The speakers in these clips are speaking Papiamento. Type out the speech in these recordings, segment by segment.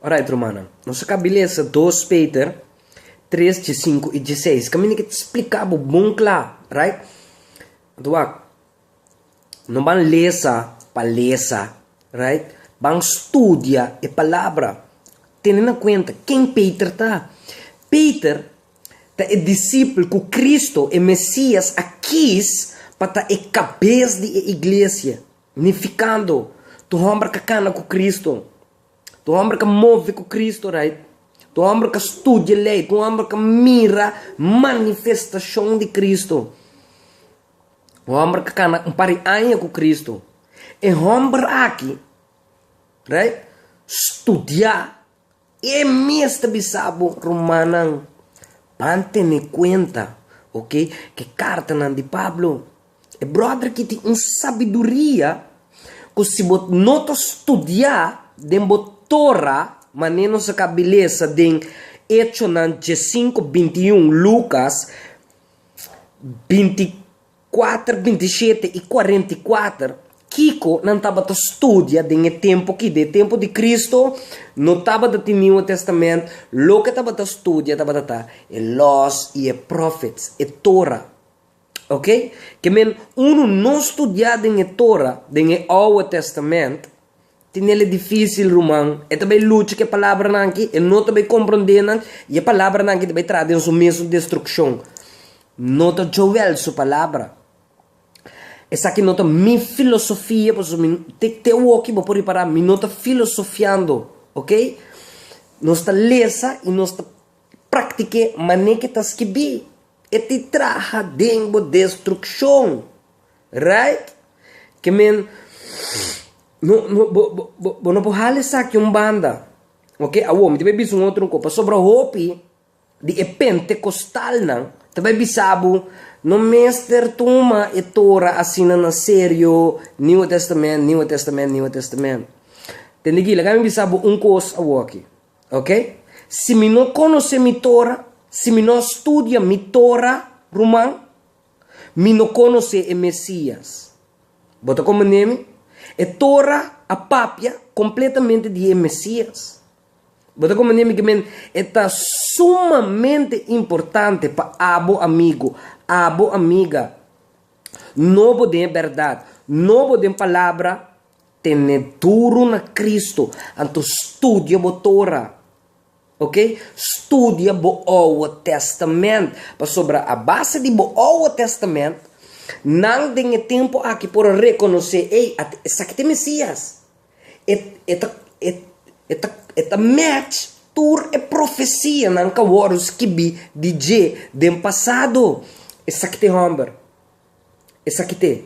Orait, rumannan, nos a kaba lesa dos Peter tres dje sinku i dje seis. Kaminda ke ta splika bo bon kla, orait? Anto wak, no ban lesa pa lesa, orait? Ban studia e Palabra. Tene na kuenta ken Peter ta. Peter ta e disipel ku Cristo, e Mesias, a kis pa ta e kabes di e iglesia. Nificando, tu homber ca cana cu Cristo, tu homber ca move cu Cristo, right? Tu homber ca studia ley, tu homber ca mira manifestacion di Cristo, un homber ca cana un par di aña cu Cristo, e homber aki, right, studia. I e mes ta bisa bo rumannan, Pan tene kuenta, oke, ku e kartanan di Pablo, e bròder ki tin un sabiduria ku si bo no ta studiá den bo Tora, manera nos a kaba di lesa den Echonan dies sinku binti un, Lukas binti. Kuater binti shete i kuarenta i kuater, Kiko nan tabata studia den e tempu kid'é? E tempu di Kristu no tabata tin Nieuwe Testament, loke tabata studia tabata ta e Lòs i e Pròfets, e Tora. Ok, ke men unu no studiá den e Tora, den e Oue Testament, Tinel e difísil, ruman. E ta bai lucha ku e palabranan aki, e no ta bai komprondé nan, i e palabranan aki ta bai traha den su mesun destrukshon. No ta Joel su palabra. Esaki no ta mi filosofia, pasobra mi, te te awoki bo por ripará, mi no ta filosofiando, ok? Nos ta lesa i nos ta praktik'é manera ku e ta skirbí. E ta traha den bo destrukshon. Right? Ke men, no, no, bo, bo, bo, bo no por hala esaki un banda, oke? Awor, mi ta bai bisa un otro kos, pasobra hopi di e pentekostalnan ta bai bisa bo, No mester tuma e Tora asina na serio, Nieuwe Testament, Nieuwe Testament, Nieuwe Testament. Tende kila, kami bisa bo un kos awor aki, oke? Si mi no konosé mi Tora, si mi no a studia mi Tora, ruman, Mi no conoce e Mesias. Bo ta comprende mi? E Torah a papia completamente di e Mesias. Bo ta comprende mi? Kimen e ta sumamente importante pa abo amigo, abo amiga. No bo den e berdad, no bo den Palabra, tene duru na Cristo, anto studia bo Torah. Ok, studia bo Oua Testament, pasobra a base di bo Oua Testament, nan den e tempu aki por a rekonosé, ey, at, esaki ta e Mesias. E, e ta, e, e ta, e ta match tur e profesia nan ku a wòrdu skibí di dje den pasado. Esaki ta e hòmber. Esaki ta e.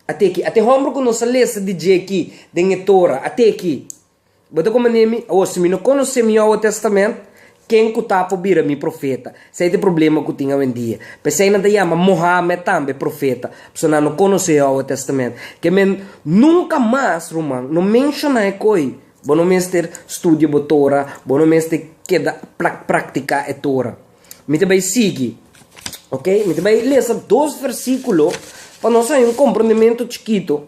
Ate aki. Ate hòmber ku nos a lesa di dje aki den e Tora, ate aki. Bo ta kuma n'e mi, awo si mi no konos'é mi Owo Tèstamènt, ken ku ta por bira mi profeta? Sey ta e problema ku tin awendia. P'esei nan ta yama Mohammèd tambe profeta, pasobra nan no konos'é e Owo Tèstamènt. Ke men, nunka mas, ruman, no menshoná e koi. Bo no mester studia bo Tora, bo no mester keda praktiká e Tora. Mi ta bai sigui, oke? Mi ta bai lesa dos versíkulo pa nos haña un komprondementu chikitu.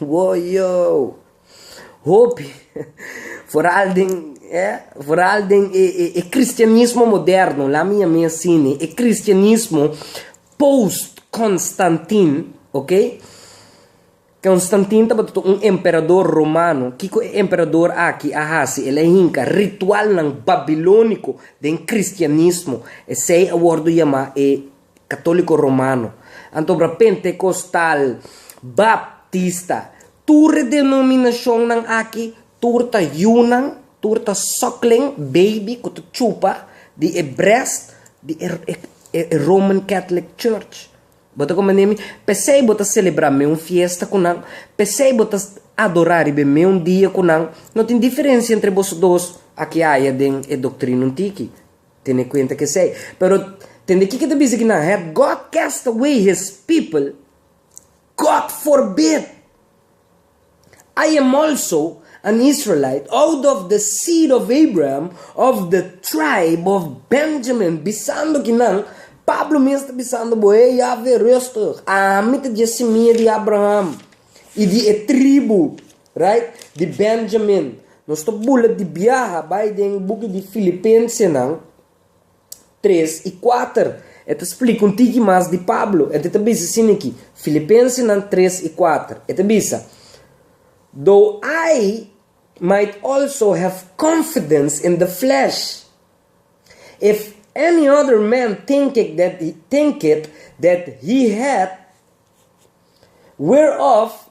Woyoo! Hopi, foral den, eh, foral den e, e, e kristianismo moderno, laat me yam'é así ne, e kristianismo post-Konstantin, okey? Konstantin tabata un emperador romano. Kiko e emperador akí a hasi? El a hinka ritualnan babilóniko den kristianismo. Esei a wòrdu yamá e Katoliko Romano, anto bra Pentekostal, Baptista, tur e denominashonnan aki, tur ta yunan, tur ta sòklen, baby, ku ta chupa di e brèst di e e Roman Catholic Church. Bo ta komprende mi? P'esei bo ta selebrá meun fiesta ku nan, p'esei bo ta adorá riba e meun dia ku nan. No tin diferensia entre boso dos aki aya den e doktrina un tiki. Tene cuenta cu esey. Pero, tende kiko ta bisa cu nan Have God cast away His people? God forbid! I am also an Israelite, out of the seed of Abraham, of the tribe of Benjamin, bisando cu nan, Pablo mes ta bisando bo, Hey Yahve, rustig! Ami ta dje simia di Abraham y di e tribu Right, di Benjamin. Nos ta bula di biaha bai den buki di Filipensenan tres i kuater. E ta splika un tiki mas di Pablo. E ta bisa sin aki, Filipensenan tres i kuater. E ta bisa, Though I might also have confidence in the flesh, if any other man thinketh that thinketh that he hath whereof,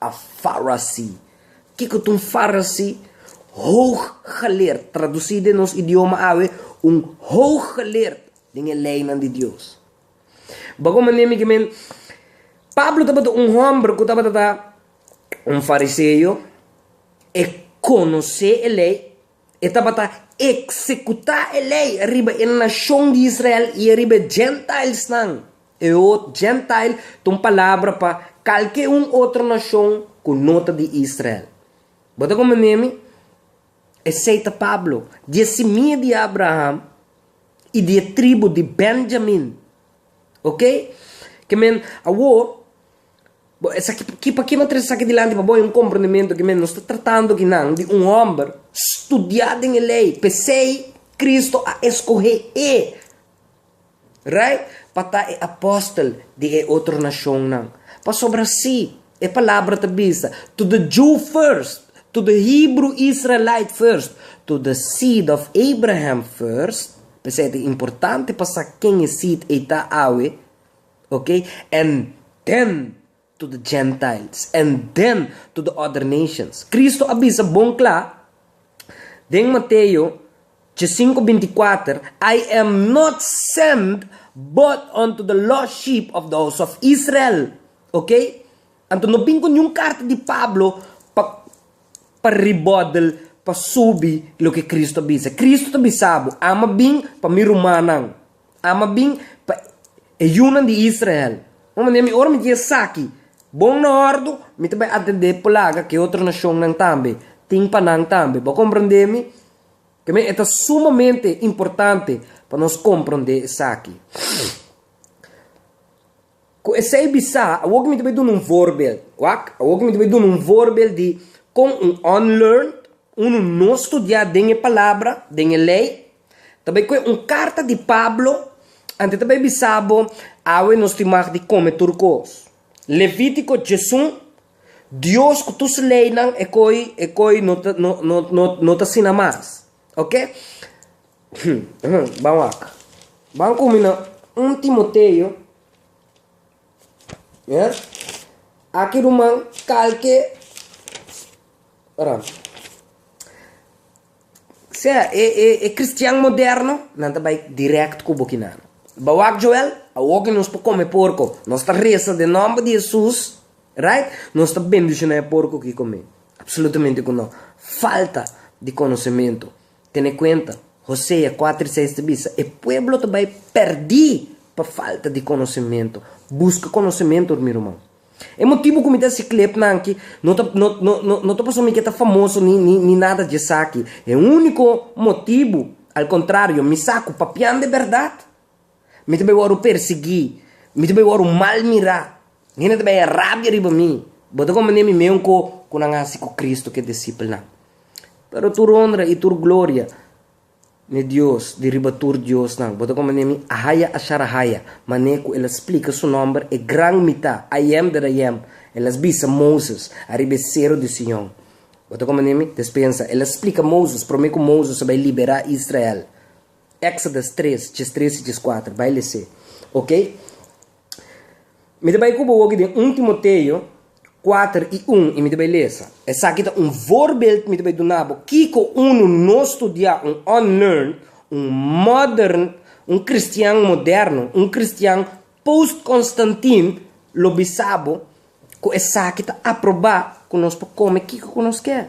A Farasí. Kiko ta un farasí? Hooggeleerd, tradusí den nos idioma awe, un hooggeleerd den e leinan di Dios. Bo kon manera mi ke men, Pablo tabata un hòmber ku tabata ta un fariseo, e konosé e lei. E tabata eksekutá e lei riba e nashon di Israel i riba e Gentilenan. Eot, Gentile, ta un palabra pa kalke un otro nashon ku no ta di Israel. Bo ta komprendé mi? Esei ta Pablo, di e simia di Abraham i di e tribu di Benjamin. Oke? Ke men, awor, Bo esaki p'aki, p'aki no trese esaki dilanti pa bo? E un komprendementu aki mes. Nos ta tratando aki nan di un hòmber studiá den e Lei. P'esei Kristu a eskohé e, right, pa ta e apòstel di e otro nashonnan. Pasobra sí, e palabra ta bisa, To the Jew first, to the Hebrew Israelite first, to the seed of Abraham first, p'esei ta importante pa sa ken e seed ei ta awe, Ok, en den to the Gentiles, en den to the other nations. Kristu a bisa bon kla den Mateo djesinku binti kuater, I am not send but unto the lost sheep of the house of Israel. Ok, anto no bin ku niun karta di Pablo pa pa ribodel, pa subi loke Kristu a bisa. Kristu ta bisa bo, Ama bin pa mi rumannan. Ama bin pa e yunan di Israel, un manera mi, ora mi ta esaki bon na hordo, mi ta bai atendé plaga ku e otro nashonnan tambe tin pa nan tambe. Bo a komprondé mi? Ke men, e ta sumamente importante pa nos komprondé esaki. Ku esei bisá, awor ke mi ta bai duna un voorbeeld, wak, awor ke mi ta bai duna un voorbeeld di kon un unlearned, unu no studiá den e Palabra, den e Lei, ta bai kue un karta di Pablo, anto e ta bai bisa bo, Awe nos tin mag di kome tur kos. Levítiko djesun, Dios ku tur su leinan e koi, e koi no ta, no, no, no, no ta asina mas. Ok, Ban wak, ban komi na un Timoteo, ya, aki ruman kalke, ora, sea e e e kristian moderno nan ta bai dirèkt ku bokinana. Ba wak Joel, awoki nos por kome porko, nos ta resa den nòmber di Hesus. Right? Nos ta bendiciona e porco ki come? Absolutamente cu no. Falta di conocemento. Tene cuenta, Hosea cuater i seis ta bisa, e pueblo ta bay perdi pa falta di conocemento. Busca conocemento hoor mi ruman. E motibo cu mi ta haci clip nan aki, no ta no no no no ta pasobra mi ke ta famoso ni ni ni nada dje esaki. E unico motibo, al contrario, mi sa cu papian de berdad. Mi ta bai wòrdu persiguí, mi ta bai wòrdu mal mirá, hende ta bai haña rabia riba mi. Bo ta komprendenan mi meun ko ku nan hasi ku Kristu ku e disipelnan. Pero tur honra i tur gloria na e Dios di riba tur diosnan. Bo ta komprendenan mi Ahaya Asharahaya, manera ku el a splika su nòmber, e gran Mitá, I Am That I Am. El a bisa Moses ariba e seru di Sion. Bo ta komprendenan mi? Despensa, el a splika Moses promé ku Moses a bai liberá Israel. Exodus tres, djes tres i djes kuater, bai les'é, ok? Mi ta bai ku bo woki den un Timoteo kuater i un, i mi ta bai lesa. Esaki ta un voorbeeld mi ta bai duna bo kiko unu no studiá un unlearned, un modern, un kristian moderno, un kristian post-Konstantin lo bisa bo ku esaki ta aprobá ku nos por kome kiko ku nos ker.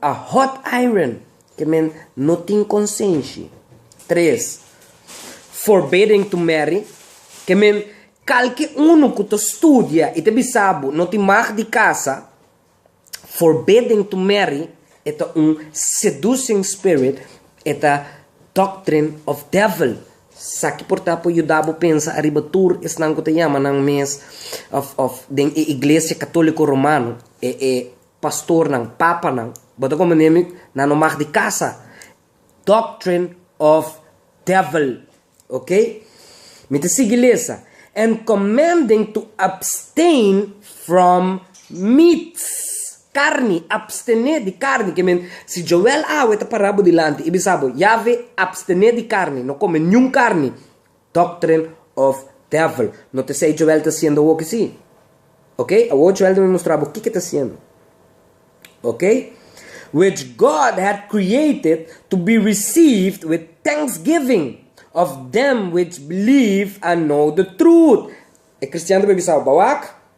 A hot iron ke men no tin konsenshi. Tres, forbidden to marry, ke men kalke unu ku ta studia i ta bisa bo no tin mag di kasa, forbidden to marry e ta un seducing spirit, e ta doctrine of devil. Sa ki por ta por yuda bo pensa ariba tur esnan ku ta yama nan mes of of den e iglesia katoliko romano e e. Pastornan, papanan, bo ta como nemi na no mag di casa, doctrine of devil, ok. Mi ta sigui lesa, and commanding to abstain from meats, carni, abstene di carni, que men si Joel awe ta para bo dilanti y bisa bo, Yahve, abstene di carni, no come niun carni, Doctrine of Devil. No ta esei Joel ta hasiendo awor ke si. Ok, awor Joel ta bin mustra bo kiko ta hasiendo. Ok, which God hath created to be received with thanksgiving of them which believe and know the truth. E kristiannan ta por bisa bo, Bawak,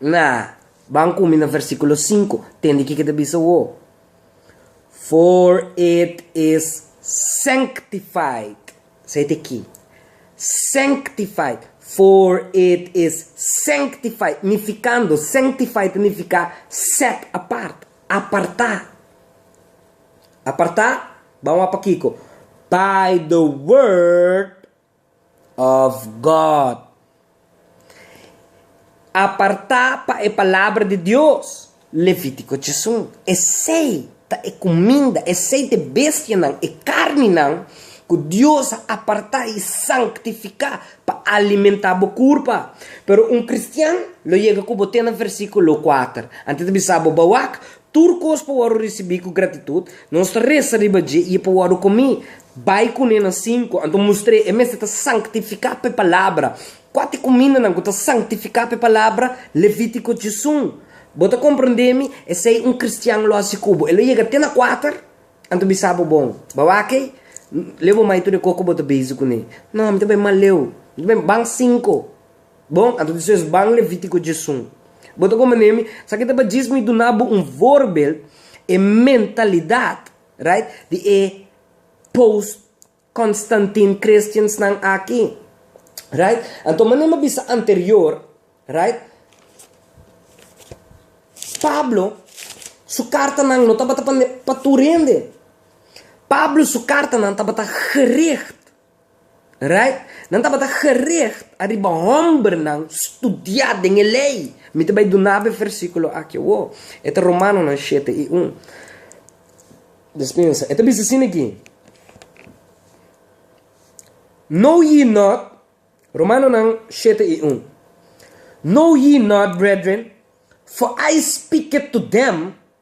Na. Ban kumi na versíkulo sinku. Tende kiko ta bisa wo. For it is sanctified. Esei ta ki. Sanctified. For it is sanctified. Nifikando, sanctified ta nifiká set apart, apartá. Apartá, ban wak pa kiko? By the word. of God. Apartá pa e Palabra di Dios, Levitico tjesun. Esei ta e cuminda, esei t'e bestianan, e carninan, cu Dios a apartá y sanctificá pa alimentá bo curpa. Pero un cristian lo yega cu bo te na versiculo kuater. Antes ta bisa bo, Ba wak, tur cos pa wòrdu ricibí cu gratitud, nos ta reza riba dje y e pa wòrdu comí. Bai kuné na sinku, anto mustr'é e mester ta sanktifiká p'e palabra. Kua t'e kumindanan ku ta sanktifiká p'e palabra? Levítiko djizun. Bo ta komprondé mi? Esei un kristian lo hasi ku bo. E lo yega te na kuater, anto bisa bo, Bon, bo a wak ei? N leu bo mai tur e kos ku bo ta bezi kuné. No, mi ta bai mal leu. Mi ta bai, ban sinku. Bon, anto despues ban Levítiko djizun. Bo ta komprondé mi? Sa ki tabata djis mi duna bo un voorbeeld, e mentalidat. Right di e post Constantine Christians nan aki right anto manera mi bisa anterior right Pablo su carta nan no tabata pa tur hende Pablo su carta nan tabata gericht Right? Nan tabata gericht ariba hombernan studiá den e Lei. Mi ta bai dunab'e e versíkulo aki awor. E ta Romanonan shete i un. Des pensa. E ta bisa asina aki, Know ye not, Romanonan shete i un, Know ye not, brethren, for I speaked to them,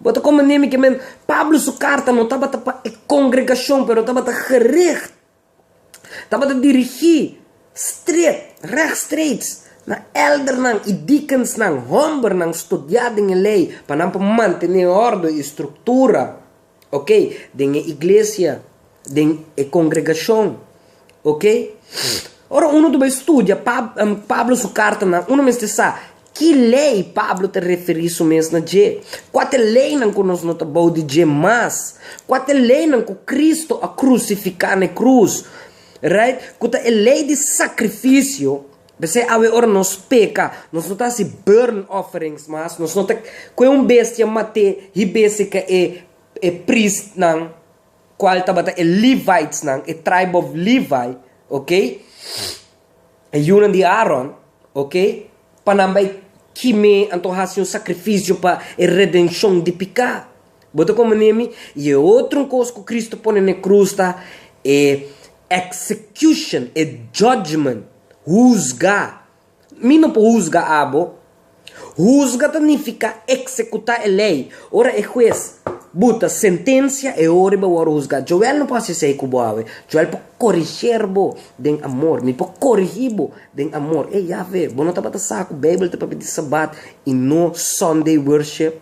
Bo ta kome nimi ke men? Pablo su karta no tabata pa e kongregashon, pero tabata gerig, tabata dirigí stret, regstreeks na èldernan i dikensnan, hòmbernan studiá den e Lei, pa nan por mantené òrdu i struktura. Ok, den e iglesia, den e kongregashon, ok. Ora unu ta bai studia Pablo su kartanan, unu mester sa ki lei Pablo ta referí su mes na dje, kua ta e leinan ku nos no ta bou di dje mas, kua ta e leinan ku Kristu a krusifiká na e krus, right, ku ta e lei di sakrifisio, P'esei awe ora nos peka, nos no ta hasi burn offerings mas, nos no ta kue un bestia mat'é hib'é sique e e priestnan, cual tabata e Levitesnan, e tribe of Levi, okay, e yunan di Aaron, okay, pa nan bai kim'é, anto hasi un sacrificio pa e redencion di pica. Bo ta como nemi? Y e otro cos cu Cristo pone n'e cruz ta e execution, e judgment, huzga. Mi no por huzga abo. Huzga ta nifica executa e ley. Ora e huez buta sentencia, e ora bo a wor huzga. Joel no por haci esey cu bo awe. Joel por coriger bo den amor. Mi por corigi bo den amor. Ey, ya fe, bo no tabata sa cu Bijbel ta papia di Sabat y no Sunday worship?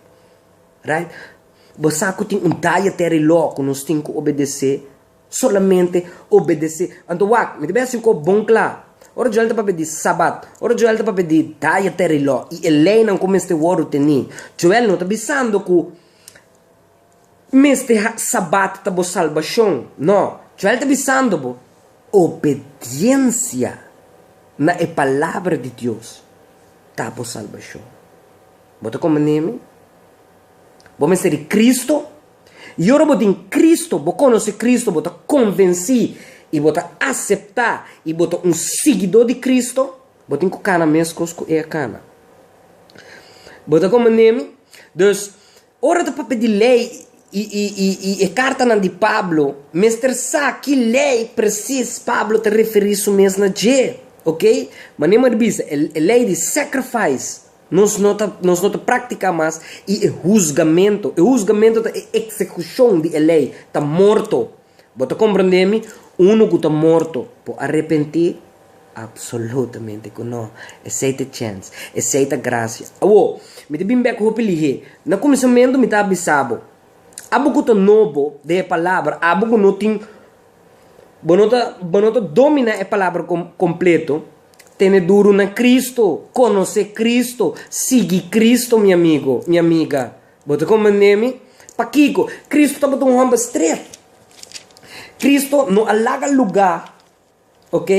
Right? Bo sa ku tin un dietary law ku nos tin ku obedesé, solamente obedesé. Anto wak, mi ta bihasi un kos bon kla. Ora Joel ta papia di Sabat, ora Joel ta papia di dietary law i e leinan ku mester wòrdu tení, Joel no ta bisando ku mester ha Sabat ta bo salbashon. No. Joel ta bisando bo, obediensia na e palabra di Dios ta bo salbashon. Bo ta kome n'e mi? Bo mester di Kristo? I ora bo tin Kristo, bo konosé Kristo, bo ta konvensí i bo ta aseptá i bo ta un siguidó di Kristo, bo tin ku kana meskos ku e a kana. Bo ta kome n'e mi? Dus, ora ta papia di lei i, i, i, i e kartanan di Pablo, mester sa ki lei presis Pablo ta referí su mes na dje, oke? Manera mi a bisa, e lei di sacrifice. Nos no ta nos no ta praktiká mas i e husgamentu, e husgamentu ta e eksekushon di e lei, ta morto. Bo ta komprendé mi? Unu ku ta morto por arepentí? Apsolutamente ku no! Esei ta e chèns, esei ta grasia. Awor, mi ta bin bèk hopi lihé. Na kuminsamentu mi ta a bisa bo, abo ku ta nobo den e palabra, abo ku no tin, Bo no ta, bo no ta dominá e palabra com, completo. Tene duru na Cristo, conocé Cristo, sigui Cristo, mi amigo, mi amiga. Bo ta comprendé mi? Pakico? Cristo tabata un homber stret. Cristo no a laga lugá. Ok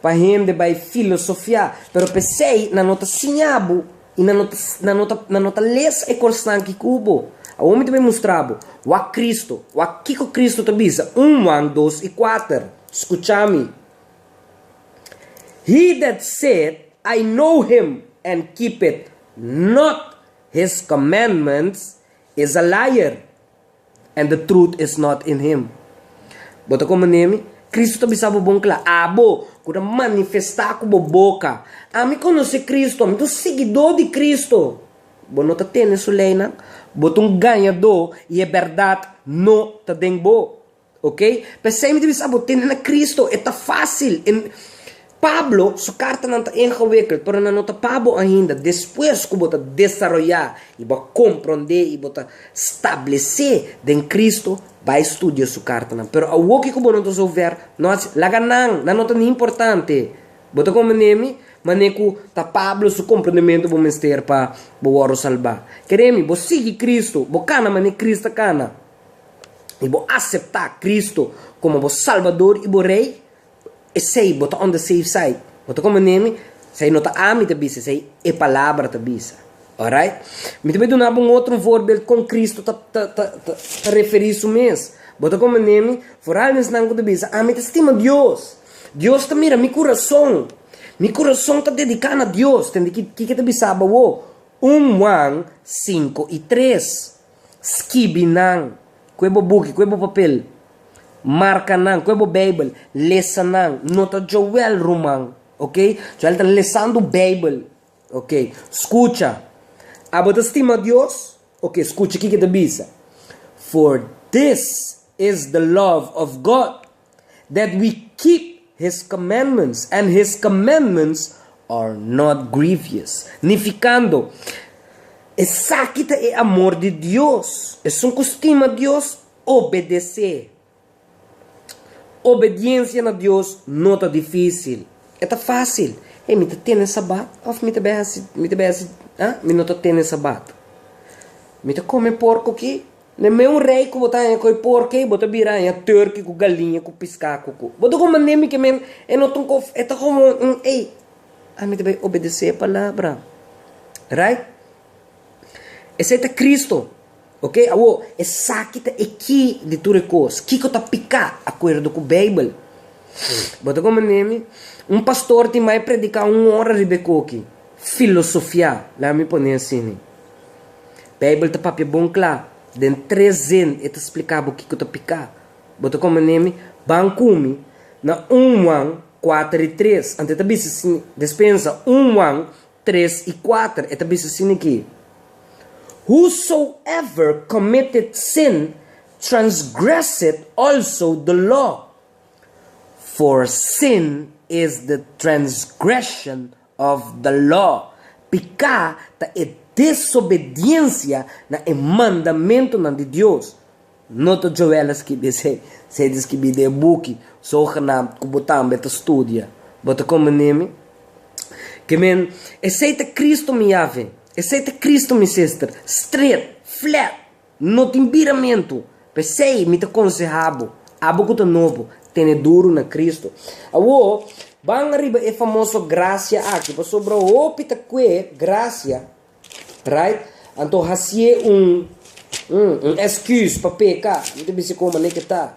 pa hende bai filosofiá, pero p'esei nan no ta siña bo i nan no nan no ta nan no ta lesa e kosnan ki ku bo. Awor mi ta bin mustra bo. Wak Kristu. Wak kiko Kristu ta bisa, un wan dos i kuater. Skucha mi. He that saith, I know him, and keepeth not his commandments is a liar, and the truth is not in him. Bo ta komo nemi? Kristu ta bisa bo bon kla, Abo, ku ta manifestá ku bo boka, Ami konosé Kristu, Ami ta un siguidó di Kristu, bo no ta tene su leinan? Bo ta un gañadó i e bèrdat no ta den bo. Ok, p'esei mi ta bisa abo, tende na Kristu e ta fásil. Pablo su kartanan ta ingewikeld, pero nan no ta pa bo ainda. Despues ku bo ta desaroyá i bo a komprondé i bo ta stablesé den Kristu, bai studia su kartanan. Pero awoki ku bo no ta zover, no hasi, laga nan, nan no ta ni importante. Bo ta komprendé mi? Manera ku ta Pablo su komprondementu bo mester pa bo wòrdu salbá. Kere mi, bo sigui Kristu, bo kana manera Kris ta kana. i bo aseptá Kristu komo bo Salbador i bo Rei, esei bo ta on de safe side. Bo ta kome neme? Esei no ta ami ta bisa, esei e Palabra ta bisa. Óraight? Mi ta bai duna bo un otro voorbeeld kon Kristu ta ta ta ta referí su mes. Bo ta kome neme? Vooral mensnan ku ta bisa, Ami ta stima Dios. Dios ta mira mi kurason. Mi kurason ta dediká na Dios. Tende kiko ta bisaba awo? Un Juan sinku i tres. Skibi nan ku e bo buki, ku e bo papel. Marka nan ku e bo Beibel. Lesa nan. No ta Joel ruman, ok. Joel ta lesando Beibel, ok. Skucha. Abo ta stima Dios? Ok, skucha kiko e ta bisa, For this is the love of God, that we keep His commandments, and His commandments are not grievous. Nificando, esaki ta e amor di Dios, esun cu stima Dios obedecé. Obediencia na Dios no ta dificil, e ta facil. Hey, mi ta tene Sabat of mi ta bay haci, mi ta bay haci, ah, mi no ta tene Sabat? Mi ta come porco aki? Ne me un rei ku bo ta haña koi por kei bo ta bira haña turki ku galiña ku piska ku ku bo ta kome manera mi ke men e no tin kof e ta komo un ei a mi ta bai obedesé e palabra right esei ta Cristo oke awo esaki ta e ki di tur e kos kiko ta pika akuerdo ku beibel bo ta kome manera mi un pastor tin bai prediká un ora riba e koki filosofia lami pone asini Bijbel ta papia bon cla. Den tres zin e ta splica bo kico ta pica. Bo ta come ne mi? Ban cumi na un muan cuater y tres. Ante e ta bisti si ni. Despensa un muan tres y cuater. E ta bisti si ni ki. Whosoever committed sin transgresseth also the law, for sin is the transgression of the law. Piká ta e desobediensia na e mandamentunan di Dios. No ta Joel a skibi esei, sei ta skibi di e buki zogenaamd ku bo tambe ta studia. Bo ta komprendé mi? Ke men, esei ta Kristu mi Yaveh, esei ta Kristu mi sister, straight, flat, No tin biramentu. P'esei mi ta konsehá bo, abo ku ta nobo, tene duru na Kristu. Awor, ban riba e famoso grasia aki, pasobra hopi ta kue grasia, right? Anto hasié un un un èskùs pa peka. Mi ta bis'é komo aneke ta.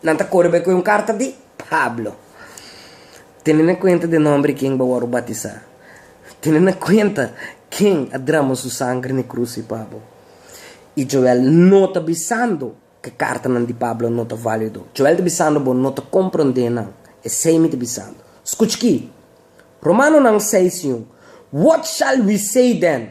Nan ta kore bay cu e un carta di Pablo. Tene na cuenta di e nomber di ken bo a wor batisa. Tene na cuenta ken a drama su sanger ne cruci pa bo. Y Joel no ta bisando cu e cartanan di Pablo no ta valido. Joel ta bisando bo no ta comprende nan. Esey mi ta bisando. Scuch aki, Romanonan seis i un, What shall we say then?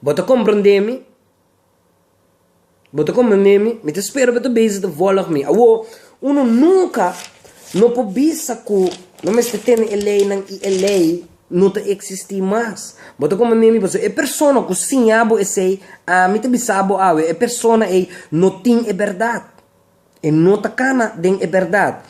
Bo ta komprondé mi? Bo ta komprondé mi? Mi ta spera bo ta bisa ta vòlg mi. Awor, unu nunka no por bisa ku no mester tene e leinan i e lei no ta eksistí mas. Bo ta komprondé mi? Pasobra e persona ku siña bo esei, ami ta bisa bo awe, e persona ei no tin e bèrdat, e no ta kana den e bèrdat.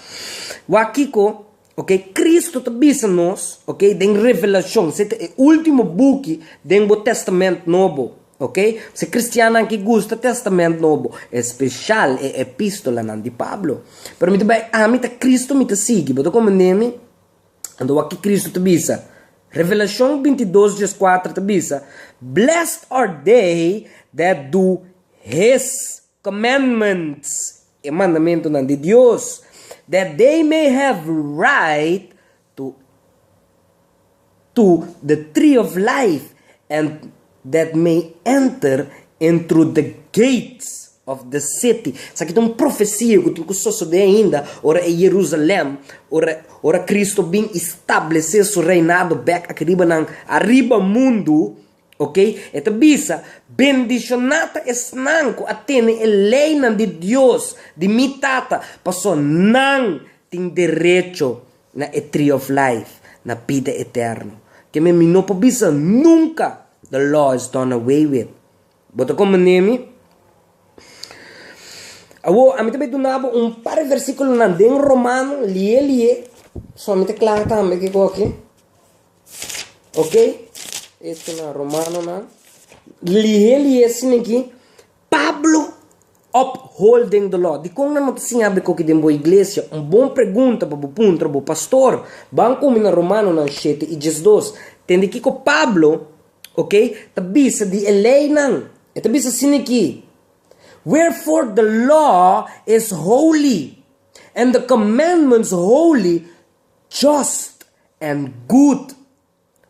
Wak kiko? Ok, Cristo ta bisa nos, ok, den Revelashon, se ta e ultimo buki den bo Tèstamènt Nobo, ok. P'esei kristiannan ki gusta Tèstamènt Nobo, espeshal e epistolanan di Pablo. Pero mi ta bai, ami ta Cristo mi ta sigui, bo ta komprendé mi? Anto wak ki Cristo ta bisa, Revelashon binti dos djes kuater ta bisa, Blessed are they that do His. Commandments, e mandamentunan di Dios, that they may have right to to the tree of life, and that may enter in through the gates of the city. Esaki ta un profesia ku tin ku sosodé ainda ora e Jerusalèm, ora ora Kristu a bin establesé su reinado bèk aki riba nan ariba mundu. Oke, e ta bisa, Bendishoná ta esnan ku a tene e leinan di Dios, di mi Tata, pasobra nan tin derecho na e Tree of Life, na bida eterno. Ke men mi no por bisa nunka, The law is done away with. Bo ta komprendé mi? Awor, ami ta bai duna bo un par di versíkulonan den Romano, li'é li'é, pasobra mi ta kla tambe kiko aki. Ok, esto na Romanonan. Lihé lihé sin aquí, Pablo upholding the law. Dikon nan no ta siña bo e koki den bo iglesia? Un bon pregunta pa bo puntra bo pastor. Ban komo na Romanonan shete i diesdos. Tende kiko Pablo, ok, ta bisa di e leinan. E ta bisa sin aquí, Wherefore the law is holy, and the commandments holy. just and good.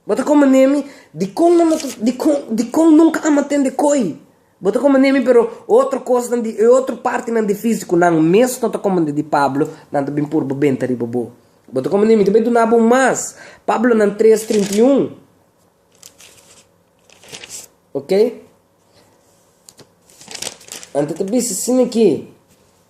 Bo ta como ne mi? Dicon nan bo ta, dicon, dicon nunca a matende coy? Bo ta como ne mi pero otro cosnan di e otro partinan di fisico nan mes no ta como den di Pablo, nan ta bin purba benta riba bo. Bo ta como ne mi? Ta bay dunabo un mas, Pablo nan tres trinta i un, ok? Anto ta bisa asina aki.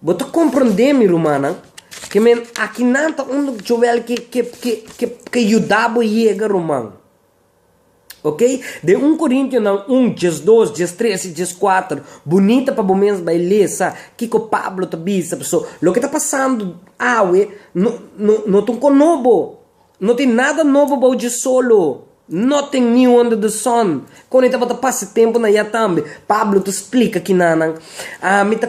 Bo ta komprondé, mi rumannan, ke men aki nan ta un chowèl ke, ke, ke, ke, ke yuda bo yega ruman. Oke? Den un Korintionan un, djes dos, djes tres i djes kuater, bo nita pa bo mes bai lesa kiko Pablo ta bisa, pasobra loke ta pasando awe no, no, no ta un kos nobo. No tin nada nobo bou dje solo. Nothing new under the sun. Kon e tabata pasa e tempu na ya tambe. Pablo ta splika kinan nan, Ami ta.